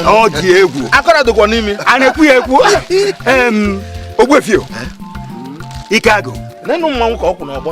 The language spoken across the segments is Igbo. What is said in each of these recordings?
ọ dị egwu akọrọ dịkwa n'imi a na-ekwu ya ekwu Ogbuefi o ike agụ nenu mmanwụ ka ọ kwụ n'ọgbọ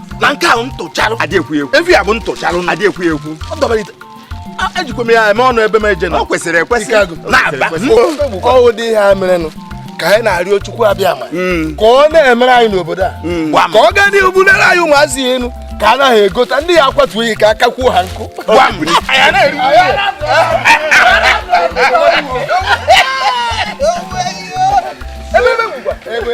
na nke ahụ ntụcharụ adị ekwu ekwu evi a bụ ntụcharụ adị ekwu ekwu ọ dọbara ite ejikwa m ya eme ọnụ ebe m eje na ọ kwesịrị ekwesị na-aba ọwụ dị ihe a merenụ ka anyị na-arịọ Chukwu Abịama hmm. ka ọ na-emere anyị n'obodo a hmm. ka ọ gaa n'ihu bulere anyị ụmụazị elu ka a naghị egota ndị ya akwatuo ihe ka aka kpọọ ha nkụ ebe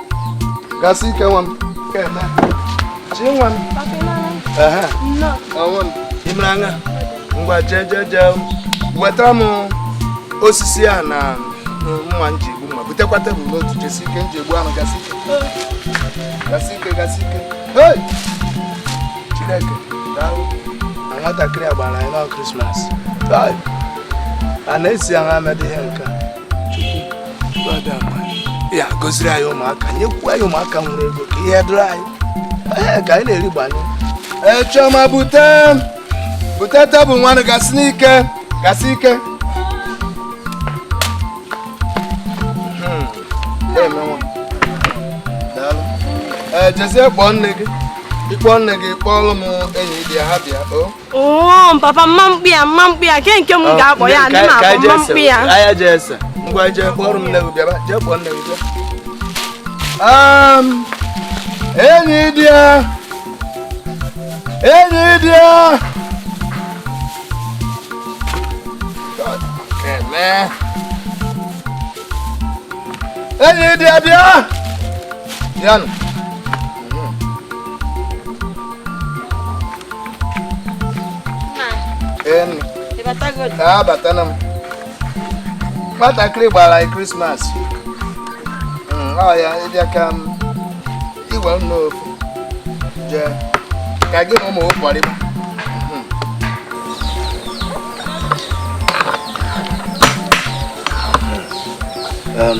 gasị ike nwa m chi nwa m i mere anya ngwa jee jee jee wetara m osisi a na mma nji egbu mma butekwa tebụl n'otu jesi ike nji egbu anụ gasị ike gasị ike gasị ike chineke daalụ na nwatakịrị a gbara anyị na krismas a na-esi ahụ amedị ihe nke a ya goziri anyị ụmụaka nyekwu anyị ụmụaka nwere ego ka ihe dịrị anyị ee ka anyị na-eri gbanye ee chioma bute bute tebụl nwanụ gasị n'ike gasị ike hmm. ee jezie kpọọ nne gị ị kpọọ nne gị kpọọlụ m enyi di ya ha bịa o oo papa mma mkpi ya mma mkpi ya nke nke m oh, ga-akpọ ya ndị m akpọ mma mkpi ya anya jee ese ngwa jee kpọrọ m nne gị bịaba jee kpọọ nne gị um, enyi di ya enyi di ya enyi di ya bịa bịanụ abatana m nwatakịrị gbara anyị krismas hmm, oya ị bịa ka m igwe m n'ofu jee ka gị na ụmụ kporiba Um,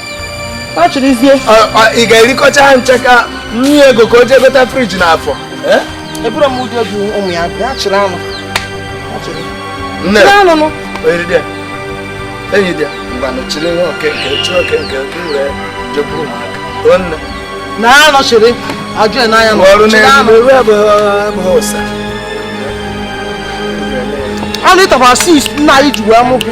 ị ga-erikọcha ha ncha ka nye ego ka o jee bute friji n'afọ ebụrụ m ụdị obi ụmụ ya bịa chịrị anụ enyi dị ngwanụ chịrị nwa oke nke chịrị oke nke nke were jekwuru ụmụaka nne na ha nọchiri ajụ ya n'anya na ọrụ n'elu ewe abụghị ụsa anụ ịtakwasị nna anyị ji wee mụ gị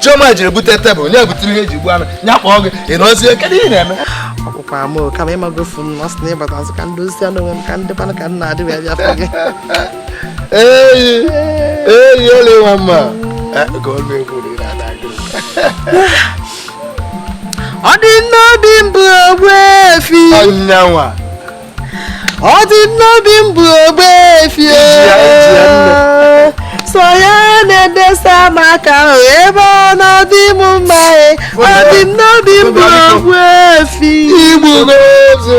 Chioma jiri bute tebụl nye butere ihe eji gbu anụ ya kpọọ gị ị nọzie kedu ihe na-eme ọkpụkwa m kama ị magofu m na ọ sị na ịbata azụ ka ndị ozi anụ onwe m ka ndị kwanụ ka m na-adị wee bịa fụ gị eyi eyi ole nwa mma eh, ka ọ na-ekwu na ị na-ada gị ọ dị n'obi m bụ Ogbuefi ọnyanwa ọ dị n'obi m bụ Ogbuefi sọ ya na-edesa m aka ebe ọ na-adị m mma e. ọ dị m n'obi m bụ Ogbuefi igbu n'ozu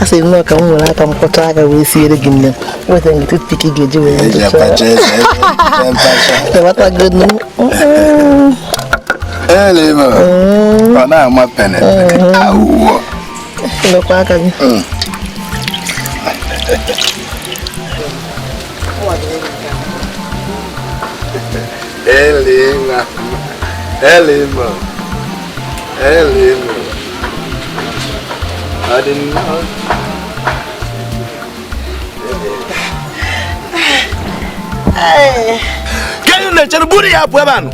a sị nnọọ ka m were aka m kpọtụ aka wee siere gị nni weta gị toothpick ị ga-eji wee ndụchaabatagonu ọ na-ama pene awụwọ lekwa aka gị Elima. Elima. Elima. I didn't know. Ka ị na-echere buru ya pụọ ebe a nụ.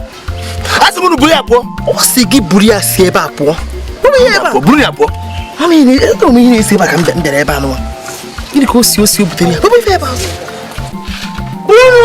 A sị m unu buru ya pụọ. Ọ sị gị buru ya si ebe a pụọ. Buru ya ebe a. Buru ya pụọ. Ọ na ihe ebe m ihe na-esi ebe a ka m bịara ebe a nụwa. Gịnị ka o si o si o butere ya? Bupụ ife ebe a. Buru.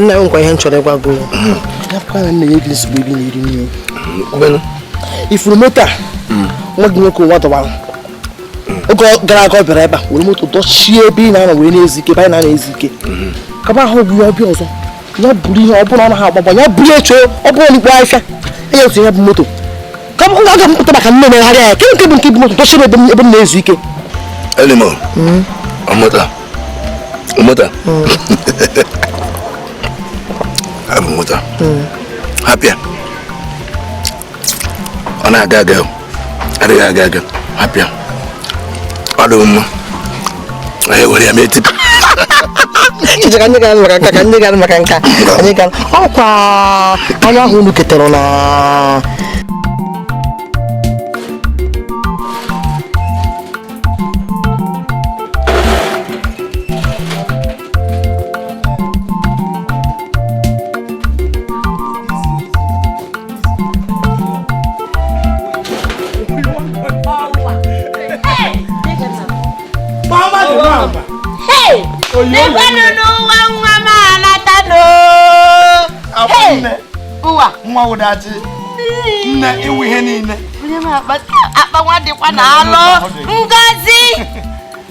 nna m lekwa ihe m chọrọ ịgwa gị ị furu moto a nwa gị nwoke ụwa dọwara oge gara aga ọ bịara ebe a were moto dọchie ebe ị na-anọ wee na-ezu ike ebe anyị na-ezu ike kama ahụ bụ ya ọ bịa ọzọ ya buru ihe ọ bụrụ ọ naghị agba agba ya buru echo ọ bụrụ n'ikpo ahịhịa enye otu ihe bụ moto ka m ga-aga m pụta maka nne megharịa ya kedụ nke bụ nke bụ moto dọchie m ebe m- ebe m na-ezu ike Elima. Ọ moto. Ọ moto. Ọ bụ moto. Hapụ ya. Ọ na-aga aga. Ọ dịghị aga aga. Hapụ ya. ọ dị mma anyị were ya mee tipa Chiche ka anyị gara maka nka ka anyị gara maka nka anyị gara ọkwa anya ahụ unu ketara na n'ekwenụ n'ụwa nwa m anata n'ụwa nwa wụ Udochi nne ị wụ ihe niile akpa nwa dịkwa na alụ ngozi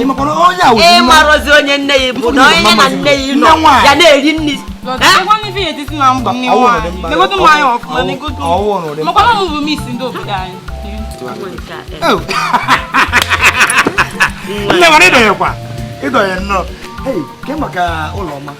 ị marọzi onye nne ya bụ na onye na nne ya nọ ya na-eri nri makwana m bụ miss ndị obodo anyị nne nwere ịdọnyekwa ịdọnye nnọọ maka ụlọ ọma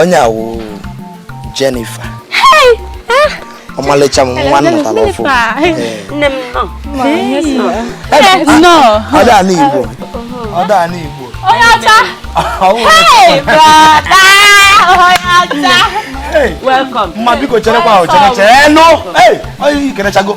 onye a wụ Jennifer ọmalịcha m nwa natara ọfụụ ọda ala Igbo ọda ala Igbo onye ọcha mma biko cherekwa ahụ chere chere nụ i kelechago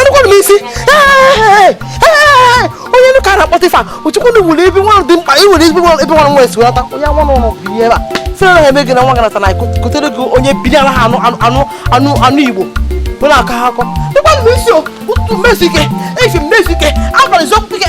anụkwanụ m isi onye nụ ka na-akpọtụ ife a o chekwanụ nwere ebe nwa dị mkpa ị nwere ebe nwa nwa esi weta onye nwa n'ụlọ bi ebe a sịrị ha eme gị na nwa gị nata na kpọtere gị onye biri ala ha anụ anụ anụ anụ igbo bụ na aka ha akọ dịkwanụ m isi ụtụtụ m ezu ike efifie m ezu ike abalị zọpụta ike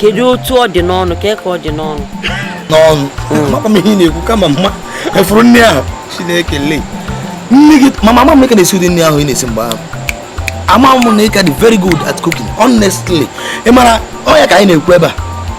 kedu otu ọ dị n'ọnụ ka ka ọ dị n'ọnụ n'ọnụ amakwa m ihe ị na-ekwu kama mma efuru nri ahụ chineke le nne gị mama ama m na ị ka na-esi ụdị nri ahụ ị na-esi mgbe ahụ ama m na ị ka dị very good at cooking honestly ị mara ọ ya ka anyị na-ekwu ebe a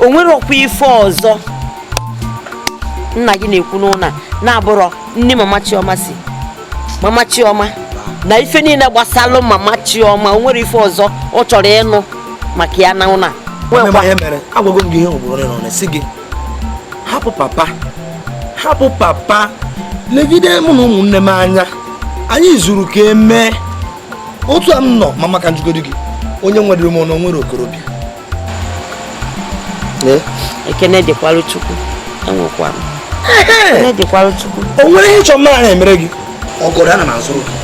o nwere ọkwa ife ọzọ nna gị na-ekwu n'ụlọ na-abụrọ nri mama chioma si mama chioma na ife niile gbasalụ mama chioma o nwere ife ọzọ ọ chọrọ ịnụ maka ya na ụlọ agwago m gị ihe ugboro ole na ole sị gị hapụ papa hapụ papa legide mụ na ụmụnne m anya anyị zuru ka e mee otu a m nọ mama ka m jụgodu gị onye nwedịrị m ọnụ nwere okorobịa ekene dịkwara chukwu enwekwa m ekene dịkwara chukwu o nwere ihe ị chọ m anaghị emere gị ọgọdọ ana m azụrụ gị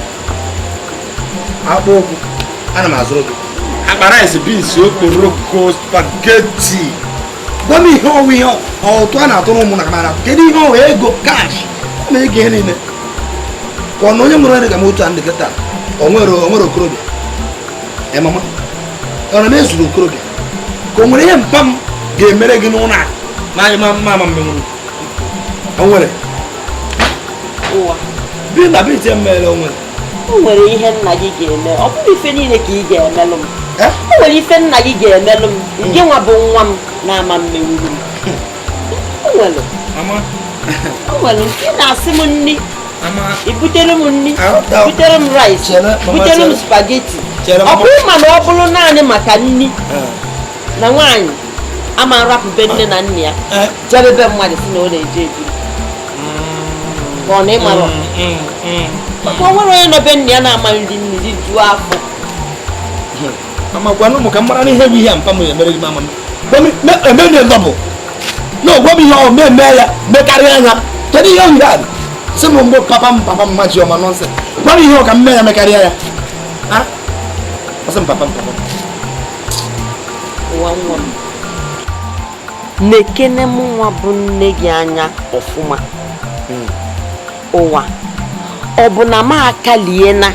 akpụ ụkwụ ana m azụrụ gị akpa rice beans okporoko spaghetti gwa m ihe ọ wụ ihe ọtụ a na-atụrụ ụmụ na mara kedu ihe ọ wụ ego cash na ego ihe niile ka ọ na onye nwere onye ka m otu a m dị kịta o nwere o nwere okorobịa eh mama ọ na m ezuru okorobịa ka o nwere ihe mpa m ga-emere gị n'ụlọ a na mama m ama mmenwuru o nwere ụwa bi na bi tie mmere o nwere o nwere ihe nna gị ga-eme ọ bụrọ ife niile ka ị ga-emelụ m Eh? o nwere ife nna gị ga-emelụ m nke nwa bụ nwa m na-ama mmenwuru m o nwere mama o nwere nke na-asị m nri i butere m nri butere m rice butere m spaghetti ọ bụrụ ma na ọ bụrụ naanị maka nri eh. na nwaanyị ama nrapụbe nne na nna ya eh. jebe be mmadụ sị na ọ na-eje ebi mm. ka ọ na ị mara mm, mm, maka o nwere onye nọ be nna ya na-ama nri nri rijuo afọ mama gwanụ m ka m mara n'ihe bụ ihe a mpa m emere gị mama m emere double na ị gwa m ihe ọ wụ m mee mee ya mekarịa ya kedu ihe ọ wụ a si m mgbe papa m papa m ma ji ọma nọnsị gwa m ihe ọ ka m mee ya mekarịa ya ọ sị m papa m papa m nekene mụnwa bụ nne gị anya ọfụma hmm. nwa ọ bụ na m akalie nka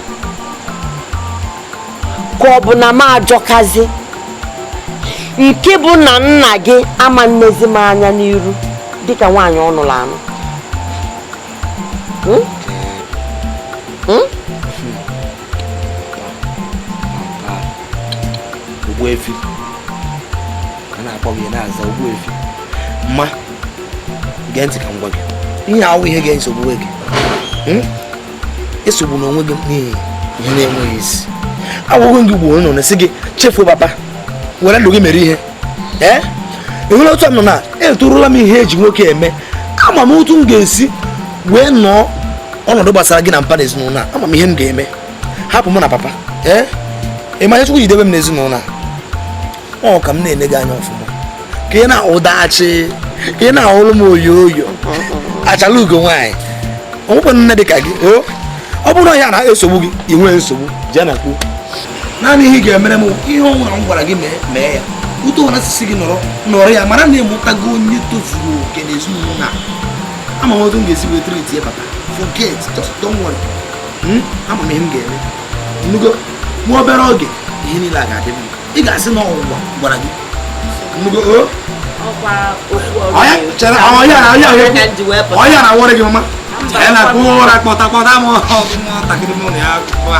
ka ọ bụ na m ajọkazi nke bụ na nna gị ama nnezi m anya n'iru dịka nwaanyị ọ nụrụ anụ hmm? Hmm? Ogbuefi a na-akpọ gị ị na-aza Ogbuefi mama gee ntị ka m gwa gị ihe a awụ ihe ga-esogbu gị hmm? esogbuna onwe gị n'ihi ihe na-enweghị isi agwago m gị gboo nọ na-asị gị chefuo papa were ndụ gị mere ihe ee enwere otu m nọ na etorula m ihe e ji nwoke eme ama m otu m ga-esi wee nọọ ọnọdụ gbasara gị na mpa na ezinụlọ a ama m ihe m ga-eme hapụ m na papa ee ị ma ihe chukwu ji debe m na ezinụlọ a ọ ka m na-ele gị anya ọfụma ka ị na-ahụ dachi ka ị na-ahụrụ m oyo oyo achala ugo nwaanyị o nwekwa nne dị ka gị ọ bụrụ na ya na-esogbu gị i nwee nsogbu jee na kwuo naanị ihe ị ga-emere m ihe ọ wụla m gwara gị mee mee ya otu ọ wụla m si sị gị nọrọ nọrọ ya mara na ị mụtago onye tozuru oke na ezinụlọ a ama m otu m ga-esi wee treatie papa forget just don't worry hmm? ama m ihe m ga-eme ị nụgo nwa obere oge ihe niile a ga-adị mma ị ga-asị na ọnwụnwa gwara gị ọya na awọrị gị mama ya na akpụ ụra kpọta kpọta m nwatakịrị m na ya kpụa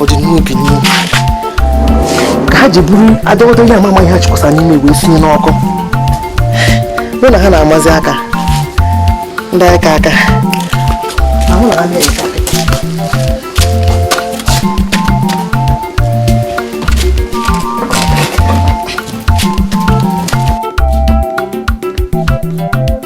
ọ dị n'obi n'ihu ka ha ji buru adọgọdọ ihe amama ihe ha chịkwasa n'ime wee sinye n'ọkụ mụ na ha na-amazi aka ndị aka aka ahụ na ha na-eka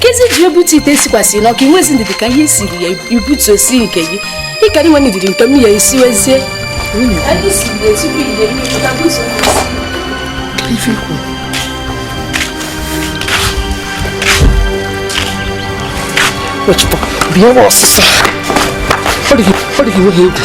kezi ji butu ite sikwasịrị n'ọkụ i nwezi ndidi ka ihe siri yee i butuo sie nke gị ị kara inwe ndidi nke m yee i siwezie bịa ọsịsọ ọ dịghị nweghị egwu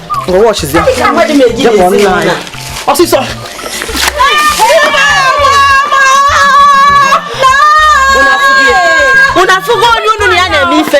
ọsịsọ unu afụgo onye unu na ya na-eme ife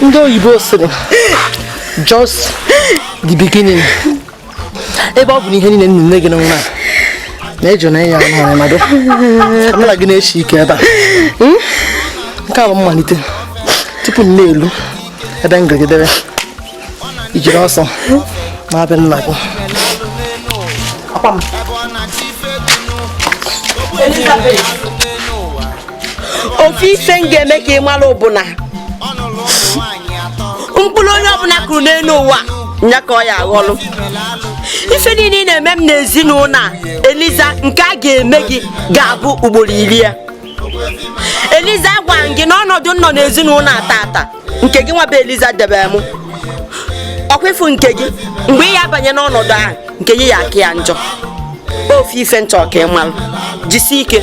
ndị oyibo sịrị just the beginning ebe ọ bụ na ihe niile nne gị nwa na-eji na ya ọhụrụ mmadụ amara gị na-esi ike ebe a hmm? nke a bụ mmalite tupu m na-elu ebe m gagidere i jiri ọsọ naa be nna gị Elizabeth ofu ife m ga-eme ka ị mara bụ na mkpụrụ onye ọbụna kụrụ n'enu ụwa nya ka ọ ya-aghọlụ ife niile ị na-eme m n'ezinụnọ a eliza nke a ga-eme gị ga-abụ ugboro ili ya eliza gwa m gị na ọnọdụ m nọ n'ezinụnọ a tata nke gị nwa bụ eliza debe m ọkwefu nke gị mgbe ị ya-abanye n'ọnọdụ ahụ nke gị ya-aka ya njọ ofu ife m chọ ka ị malụ jisie ike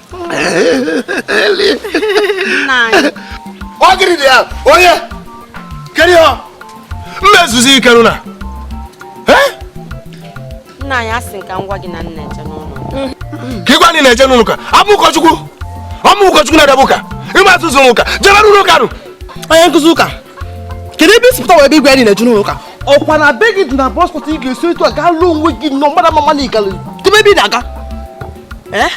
onye kedu ihe m me zuzie ike nụ na nna anyị asị m ka m gwa gị na m na-eje n'ụlọ ụka ị gwa m na ị na-eje n'ụlọ ụka abụ m ụkọchukwu ọ mụ ụkọchukwu na-edebe ụka ị ma atụzụ ụka jebere ụlọ ụka nụ onye nkụzi ụka kedu ebe i si pụta wee ebe igwe anyị na-eje n'ụlọ ụka ọkwa na be gị dị na boys quarter ị ga-esi etu a gaa lụọ onwe gị nọ mmadụ mama na ị gara debe ebe ị na-aga eh?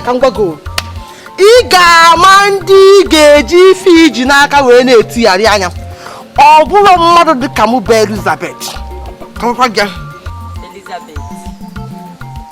ka m gwa gị ị ga-ama ndị ị ga-eji ife i ji n'aka wee na-etigharị anya ọ bụrụ mmadụ dị ka mụ bụ Elizabeth ka m gwa gị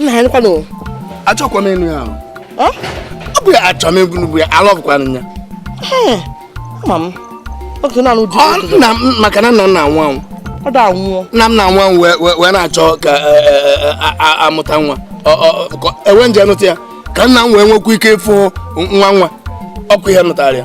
nna ya nkwanụ achọkwa m ịnụ ya ọ bụ ya achọ m ịbụ bụ ya alọbụkwanụ ya ma m oge na-anụ di nna m maka na nna m na-anwụ anwụ ọ da anwụọ nna m na-anwụ anwụ wee na-achọ ka e, e, e, a mụta nwa e wee jee nụta ya ka nna m wee nwekwa ike ịfụ nwa nwa ọkụ ihe nụtara ya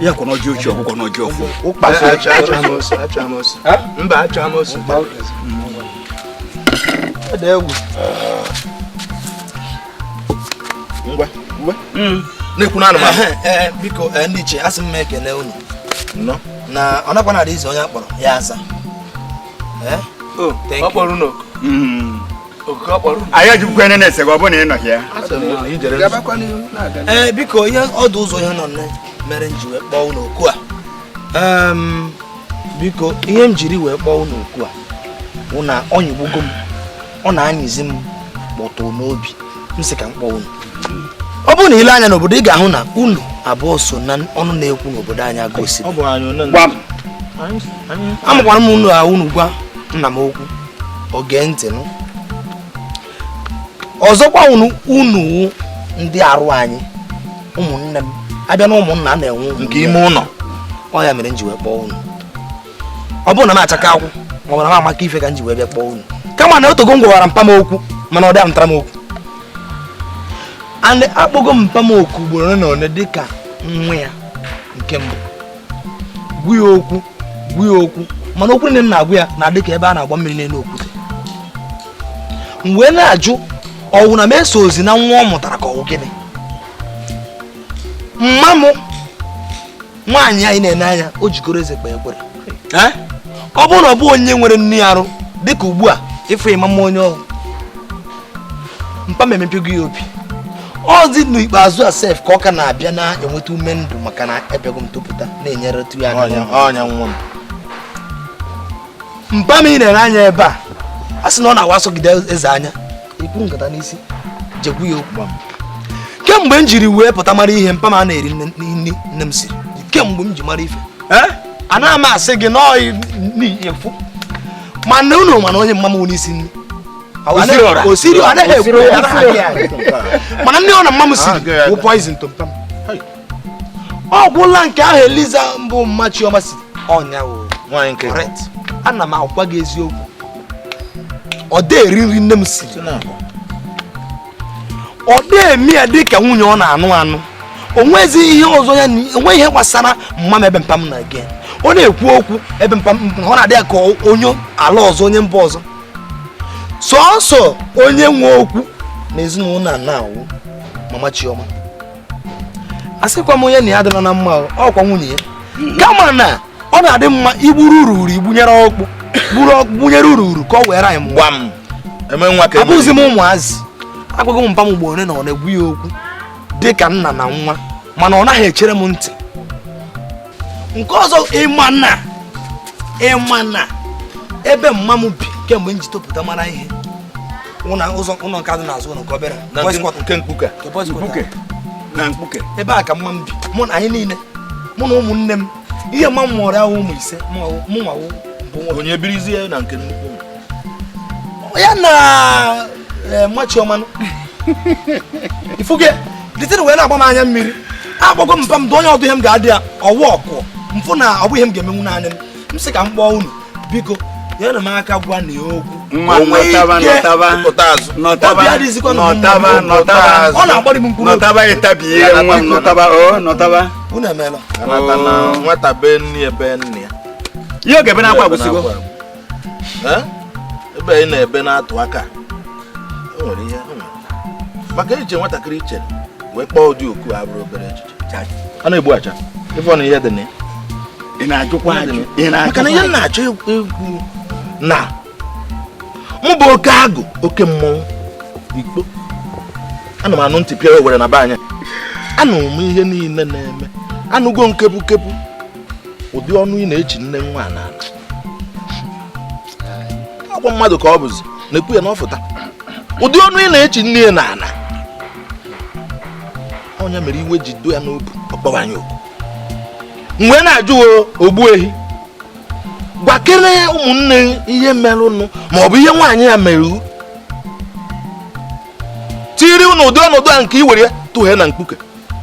ya kọ n'ọjị ochie ọ kọ n'ọjị ọfụ. ọkpasị acha acha amosu acha amosu mba acha amosu. ọ dị egwu. ngwa ngwa. na-ekwu n'anụ ma. biko ndị ichie asị m ekele unu. nnọọ. na ọ nakwa na-adị izu onye a kpọrọ ya aza. ọ kpọrọ unu oku. anyị ajụkwa ene na-ese gị ọ bụrụ na ị nọghị ya ee eh, biko ihe ọ dụ ụzọ ihe anọ mere m ji wee kpọọ unu oku a biko ihe m jiri wee kpọọ unu oku a bụ na ọ nyịgbugo m ọ na-anyịzi m kpọtụ n'obi m sị ka m kpọọ unu ọ bụrụ na i lee anya n'obodo ị ga-ahụ na unu abụọ so na ọnụ na-ekwu n'obodo anyị agosiri amakwara m na unu gwa nna m okwu o gee ntị nụ ọzọkwa unu wụ ndị arụ anyị ụmụnne m a bịa na ụmụnna a na-enwe nke ime ụlọ ọ ya mere m ji wee kpọọ unu ọ bụrọ na m achaka akwụ ma ọ bụ na m amaka ife ka m ji wee bịa kpọọ unu kama na o teego m gwawara mpa m okwu mana ọ dị anụtara m okwu akpọgo m mpa m okwu ugboro ole na ole dịka nwa ya nke mbụ gwa ya okwu gwa ya okwu mana okwu niine m na-agwa ya na-adị ka ebe a na-agba mmiri n'elu okwute m wee na-ajụ ọ wụ na m esozi na nwa ọ mụtara ka ọ wụ gịnị mma m nwaanyị anyị na-ene anya o jikọrọ eze kpee ekpere ọ bụrụ na ọ bụ onye nwere nrịa arụ dịka ugbu a ị fụ mama m onye ọhụrụ mpa m emepego ya obi ọ dị n'ikpeazụ a sef ka ọ ka na-abịa na-enweta ume ndụ maka na ebego m topụta na-enyeretụ ya ọnya nwa m mpa m ị na-ene anya ebe a a sị na ọ na-awa asọgide eze anya ikwu nkata n'isi jee gwa ya okwu kemgbe m jiri wee pụta mara ihe mpa m a na-eri nri nne m siri kemgbe m ji mara ife anaghị m asị gị na ọyị na-efu mana unu ma na onye mma m n'isi nri o siri ọ naghị ekwu mana nri ọ bụna mma m siri ah, wụ poison to mpa m ọ gwụla nke ahụ eliza bụ mma chioma si ọ nya wụ ana m agwa gị eziokwu ọ dị eri nri nne m siri ọ dị eme ya dị ka nwunye ọ na-anụ anụ o nwezi ihe ọzọ ya o nwe ihe gbasara mma m ebe mpa m na gị ọ na-ekwu okwu ebe mpa m ọ na-adị ya ka onye ala ọzọ onye mba ọzọ sọsọ onye nwe okwu na ezinụlọ a na-awụ mama chioma asịkwa m onye na ya adịla na mma ọ kwa nwunye ya kama na ọ na-adị mma i gburu ururu i gbunyere ọkpụ gburu ọkpụ gbunyere ururu ka ọ were anyị mgba m abụzi m ụmụazị agwago m mpa m mgbe one na one gwa ya okwu dị ka nna na nwa mana ọ naghị echere m ntị nke ọzọ ị ma na ị ma na ebe mma m bi kemgbe m ji topụta mara ihe ụlọ nke a dị n'azụ ụlọ nke obere Na boys nke- quarter. nke mkpuke Nke boys quarter. mkpuke na mkpuke ebe a ka mma m bi mụ na anyị niile mụ na ụmụnne m ihe mma m mụrụ wụ ụmụ ise mụ nwa wụ bụ nwa onye birizie na nke nnukwu ya na eh, mma chioma ị fụ nke dịtịrị wee na-agba m anya mmiri akpọgo m mpa m dụọ ya ọdụ ihe m ga-adụ ya ọ wụ ọkụ m fụ na ọ bụ ihe m ga-emenwu naanị m m sị ka m kpọọ unu biko nyere m aka gwa nya okwu nwa nọtaba nọtaba nọtaba nọtaba nọtaba ọ na-agbari m mkpụrụ nọtaba ịtabi ihe nwa m nọtaba o oh, nọtaba unu emeela oh. nwata be nne ya be nne ya ihe oge ebe akwa agwụsịgo ebe ị na-ebe na-atụ aka o nwere ihe e maka echiche nwatakịrị chere wee kpọọ ụdị oku a abụrọ obere echiche a na-egbu aja ị fụ na ihe dị na ya ị na-ajụkwa ajụ maka na ihe m na-achọ ikwu na mụ bụ oke agụ oke mmọnwụ ikpo ana m anụ ntị pịa owere na be anya anụ m ihe niile na-eme anụgo nkepu kepu ụdị ọnụ ị na-echi nne nwa n'ala agwa mmadụ ka ọ bụzi na-ekwu ya na ọ fụta ụdị ọnụ ị na-echi nne ya n'ala ọ nya mere iwe ji dị ya n'obi ọ kpọọ anyị oku m wee na-ajụ ogbuehi gwakere ụmụnne ihe merụnụ ma ọ bụ ihe nwaanyị ya mere tiri n'ụdị ọnọdụ a nke i were ya tụghe na mkpuke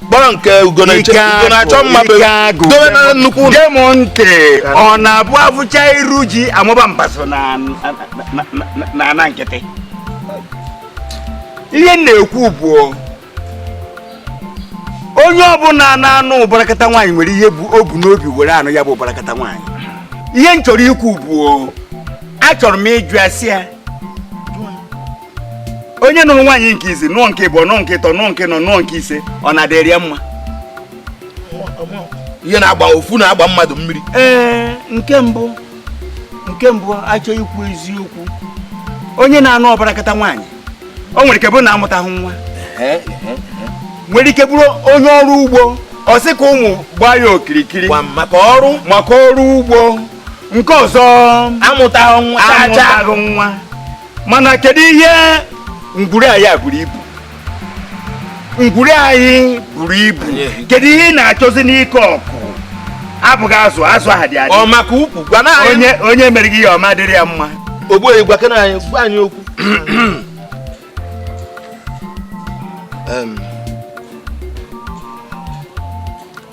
kpọrọ nke ugo na-eche Ike ugo na-achọ agụ, mma be ike agụ. dobe na nnukwu ụlọ gee m ntị ọ na-abụ afụcha iru ji amụba mbazụ na na- na- na- na ana nkịtị ihe m na-ekwu bụ onye ọbụla na-anụ ụbarakata nwaanyị nwere ihe bụ o bu n'obi were anụ ya bụ ụbarakata nwaanyị ihe m chọrọ ikwu bụ achọrọ m ịjụ ase ya onye nụrụ nwaanyị nke izizi nụọ nke ịbụọ nụọ nke ịtọ nụọ nke ịnọ nụọ nke ise ọ na-adịrị ya mma ihe na-agba ofu na-agba mmadụ mmiri ee nke mbụ nke mbụ a chọọ ikwu eziokwu onye na-anụ ụbarakata nwaanyị o nwere ike bụrụ na amụtaghị nwa nwere ike bụrụ onye ọrụ ugbo ọ sị ka ụmụ gbaa ya okirikiri maka ọrụ maka ọrụ ugbo nke ọzọ amụtaghị nwa amụtaghị nwa mana kedu ihe ngwuru anyị buru ibu ngwuru anyị buru ibu kedu ihe ị na-achọzi n'ike ọkụ abụghị azụ azụ aha dị adị ọ maka ukwu gwa na anyị onye onye mere gị ihe ọma dịrị ya mma ogbuehi gwakene anyị gwa anyị okwu Em,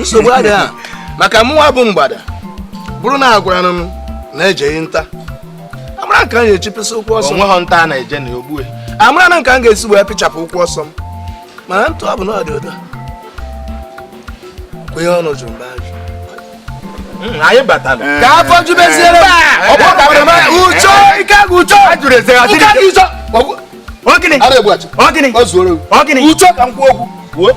nsogbu adịghị a maka mụnwa bụ mgbada bụrụ na agwara m na-ejeghị nta amara m ka m ga-echipụsị ụkwụ ọsọ onweghị nta a na-eje na ogbu e. amara m ka m ga-esi wee pịchapụ ụkwụ ọsọ m mana ntụ ọ bụ na ọ dị ụdọ kwenye ọnụ jụrụ mba hmm, anyị batara eh. ka afọ jubeziere ucho ike agụ ucho ajụrụ eze ha dịrị ucho ọ gịnị ọ gịnị ọ gịnị ucho ka m kwuo okwu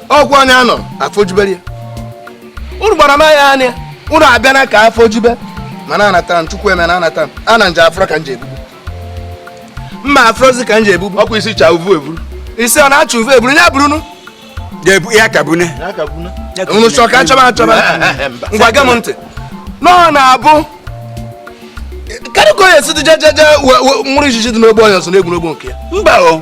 ọgwụ onye anọ afọ jubere ya unu gbara m anya anya unu abịana ka afọ jube mana anatara m chukwu eme na anata m ana nje adịrọ ka m ji ebubu mma adịrọzi ka m ji ebubu ọkwa isi cha uvu eburu isi ọ na-achọ uvu eburu ya bụrụ unu ga-ebu ya ka bunye unu chọ ka achọba achọba ngwa gee m ntị na ọ na-abụ kedụ ka onye si dị jejeje nwụrụ ijiji dị n'ogbo onye ọzọ na-egwu n'ogbo nke ya mba o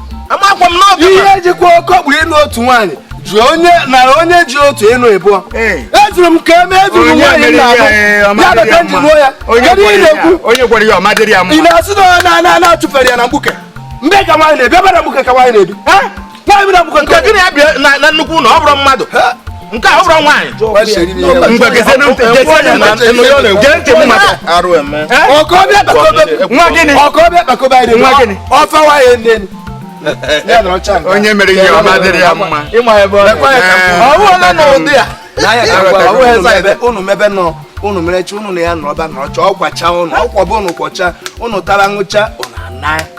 amakwa m n'obi ihe jikwa okeokporo ịnụ otu nwaanyị ji onye nara onye ji otu ịnụ ịbụọ ezuru m ka e mee ezuru nwaanyị na-abụ ya bata nji ruo ya kedu ị na-ekwu ị na-asị na onye na-ana na-achụfere ya na mkpuke mgbe ka nwaanyị na-ebi ebe na mkpuke ka nwaanyị na-ebi nwaanyị na mkpuke nke gịnị ya bịa na nnukwu ụlọ ọ bụrụ mmadụ nke a ọ bụrọ nwaanyị onye mere ihe ọma dịrị ya mma ọwụla na ụdị ya unu mebenụ unu merecha unu na ya nọrọba nọrọcha ọkwacha unu akwọba unu kwọcha unu tara ṅụcha unu ana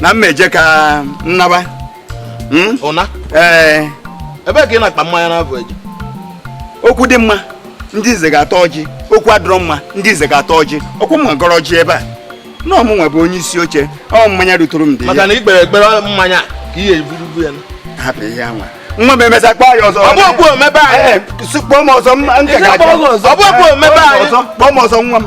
na m eje ka m naba hmm? ụna ee ebe ka ị na-akpa mmanya na-abụ eje okwu dị mma ndị nze ga-ata ọjị okwu adịrọ mma ndị nze ga-ata ọjị ọkwa m gọrọ ọjị ebe a na ọ mụnwa bụ onye isi oche ọ mmanya ruturu m dị maka na i kpere ekpere mmanya ka ihe eburubu ya hapụ ihe anwa nwa m emesa kpọọ ya ọzọ ọ bụ okwu omebe anyị kpọọ m ọzọ m nke ga ọ bụ okwu omebe anyị kpọọ m ọzọ nwa m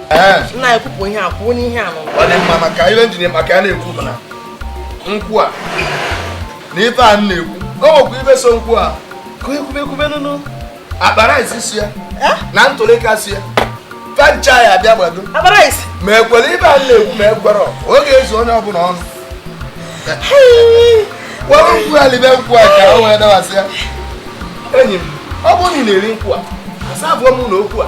nna ya kwupụ ihe a kwuo n'ihe a na ọ dị mma maka ihe m ji maka ya na-ekwu bụ na nkwụ a na ife a na-ekwu o nwekwa ife so nkwụ a ka e kwube kwube na ụnụ akpara isi si ya na ntụlịka si ya fancha ya abịa gbado ma e kwere ibe a na-ekwu ma e kwere ọ ga-ezu onye ọbụla ọnụ were nkwụ ya libe nkwụ a ka o wee dawasị ya enyi m ọ bụrụ na ị na-eri nkwụ a asa abụọ m na okwu a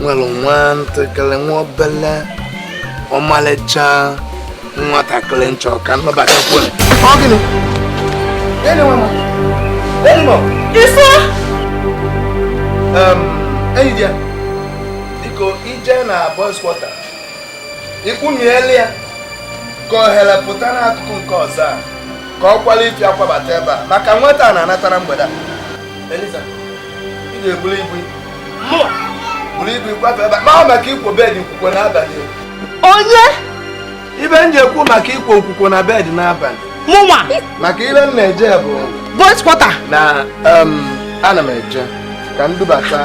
nwere nwa ntakịrị nwa obele ọmalịcha nwatakịrị m chọ ka m nụbatakwu ọ gịnị ife enyi di ya biko i je na boys quarter ikwumiele ya ka ohere pụta n'akụkụ nke ọzọ a ka ọ kwala ife ya kwabata ebe a maka nwata a na-anatara mgbede a Eliza, ị ga-ebuli ike. Mụ! Buli ike gbafe ebe a. Maa maka ikwo bed nkwukwo n'abalị. Onye? Ibe m ji ekwu maka ikwo nkwukwo na bed n'abalị. Mụnwa? Maka ibe m na-eje bụ. Boys quarter. Na um, ana m eje ka m dubata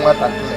nwatakịrị.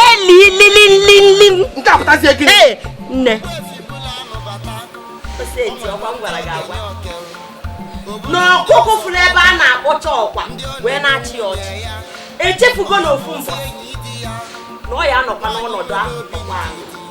elilililili nke a pụtazie gịnị ee nne oseti ọkwa m gwara gị agwa na ọkụkụ fụrụ ebe a na-akpọcha ọkwa wee na-achị ya ọchị echefugo na ofu mbọ na ọ ya-anọkwa n'ọnọdụ ahụ ọkwa ahụ